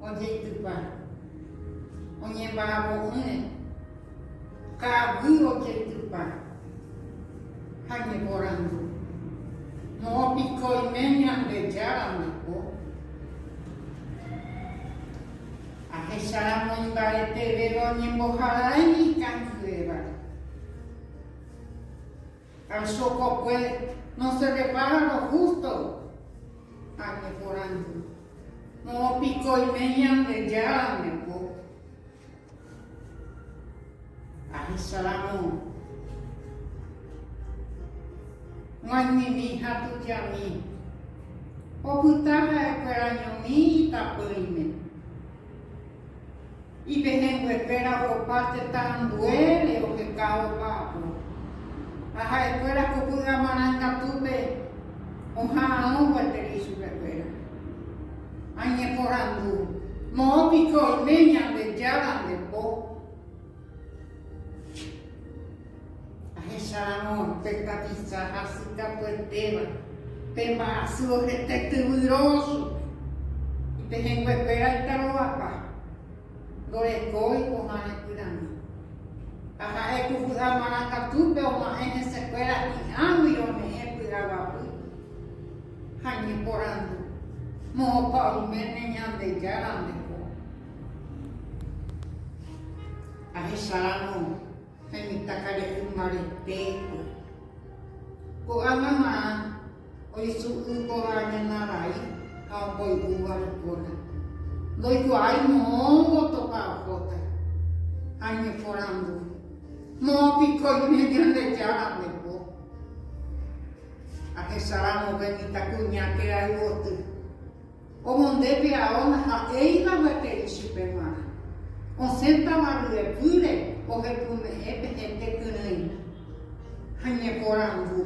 Ojeitypa. Oñemba'apo'ỹre. Ka'aguy ojeitypa. Ha ñeporandu. Moõ piko oime Ñandejára oiko? Ahecharamo imbaretevéva oñemboharaei ikangyrévare. Ha chokokue nosepepáva lo hústo año porãndy, moõpikoime Ñandejárande ko. Ahecháramo maymimi ha tujami, opyta ha'ekuéra ñomi itapỹime. Ipehẽnguekuéra ohopa tetã ambuére ohekávo opáapo, ha ha'ekuéra ko ky'a marãngatúpe oha'arõ gueteri chupekuéra. Añeporandu, Moõ piko oime Ñandejára nde po? Ahecháramo pe tapicha hasykatuetéva, pe mba'asy ohete tyvy róso, ipehẽnguekuéra itarovapa, ndorekói ko'ã repyrãmi. Ha ha'e ku vy'a marangatupe oma'ẽ hesekuéra hi'ãgui rome'ẽ py'aguapy ha ñeporandu, Moõpa oiméne Ñandejárandeko? Ahecháramo. ha imitãkare'y mbaretépe. Ko'ã mama oisu'y kóva ñana vai ha omboy'úva ipóna, ndoikuaái moõvo topa ohóta ha ñeporandu, Moõ piko ñne Ñandejára ndepo? Ahecháramo pe mitãkuña kerayvoty. Omondépe ao ndaha'éiva gueteri chupe g̃uarã. Osẽtava ryepýre ohepyme'ẽ pe hente kyrỹi ha ñeporandu,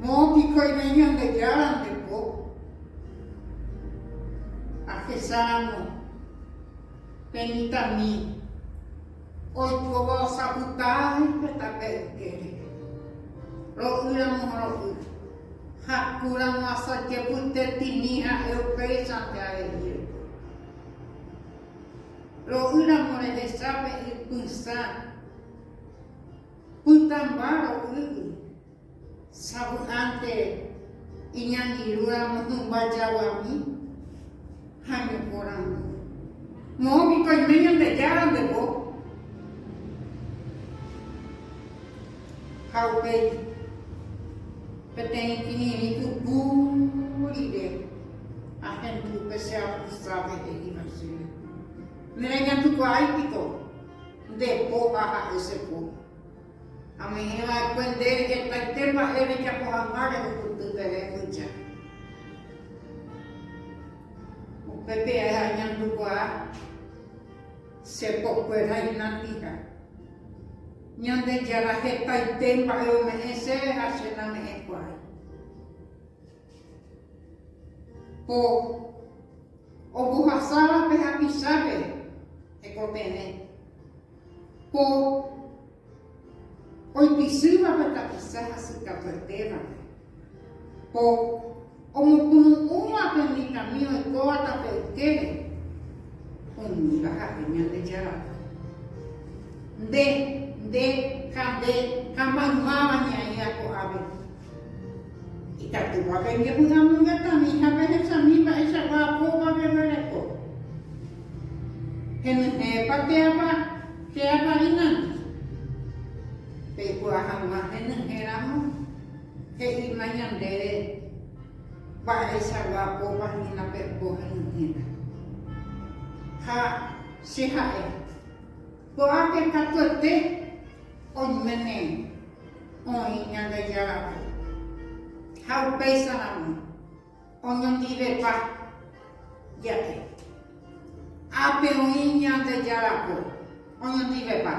Moõ piko oime Ñandejára nde po? Ahecháramo pe mitãmi oikóva osapytái pe tape ykére, ro'ýramo ha ro'y. Ha ku ramo asajepytetĩmi ha'e upéichante areíre. Ro'y ramo rehechápe ipysã pytãmba ro'ýgui, savy'ánte iñangirũ ramo hymba jaguami. ha ñepórã ndive. Moõ piko oime Ñandejára nde po. Ha upéi, peteĩ kirirĩ puku rire, ahendu pe che apostrave he'íva chéve, Nereñandukuaái piko nde po ha ha'e che po. Amoĩva'ekue nde hetaite mba'e rejapo hag̃ua rehupyty peve húcha. Upe pia añandukuaa che pokuera inandiha. Ñandejára hetaite mba'e ome'ẽ chéve ha che name'ẽkuaái. Ko. Ombohasáva pe hapichápe hekopeve, po oipisýva pe tapiza hasykatuetévape, po omokunu'ũva pe mitãmi oikóva tape ykére, umíva ha'e Ñandejárape. Nde, nde ha nde ha maymáva ñaĩva ko'ápe. Ikatúva pembyehuramongetavi ha pehesami mba'eichagua apóva peguereko. Henyhẽpa che Apa, che Apa'i nandi? Peikuaa hag̃ua henyhẽramo, he'íma ñandéve mba'eichagua apópa hína pepo henyhẽta. Ha che ha'e, Ko'ápe katuete. Oiméne oĩ Ñandejárape ha upéicharamo oñondivepa jave. Ápe oĩ Ñandejárape oñondivepa.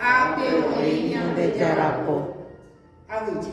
Ápe oĩ Ñandejárape aguyje.